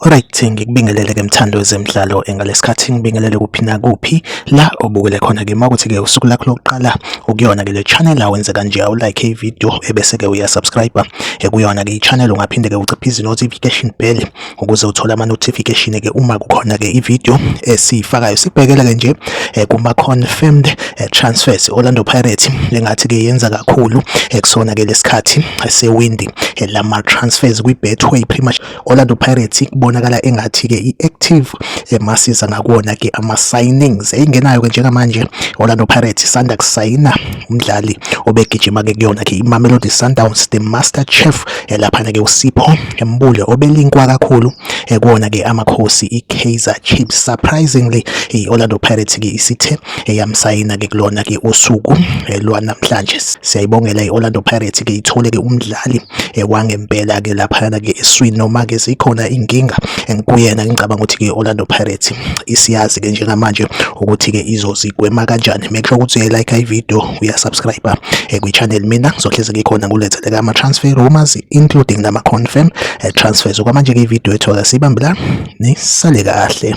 Alright ngikubingelele ke mthando wezemidlalo engalesikhathi ngibingelele kuphi na kuphi la obukele khona ke makuthi ke usuku lakho lokuqala ukuyona ke le channel awenze kanje awu like i video ebese ke uya subscribe ekuyona-ke i-channel ungaphinde-ke uciphe izi-notification bell ukuze uthole ama-notification-ke uma kukhona-ke i-video esiyifakayo sikubhekela-ke nje eh, kuma-confirmed eh, transfers orlando pirates engathi-ke yenza kakhulu eh, kusona-ke lesikhathi sewindi lama-transfers kwi-betway pretty much Orlando Pirates kubonakala engathi ke iactive emasiza ngakona ke ama signings eyingenayo ke njengamanje Orlando Pirates sanda kusayina umdlali obegijima ke kuyona ke iMamelodi Sundowns the master chef elaphana ke uSipho Mbule obelinkwa kakhulu ekona ke amakhosi iKaizer Chiefs surprisingly iOrlando Pirates ke isithe eyamsayina ke kulona ke usuku lwanamhlanje siyayibongela iOrlando Pirates ke ithole ke umdlali ekwangempela ke laphayana ke eswini noma ke sikhona inkinga kuyena ngicabanga ukuthi ke Orlando Pirates isiyazi ke njengamanje ukuthi ke izozigwema kanjani make sure ukuthi uyayilike i video uyasubscribe eh, kwi channel mina ngizohlezi ngikhona ngulethele ama transfer rumors including nama confirm eh, transfers okwamanje ke video ethola sibambela nisale kahle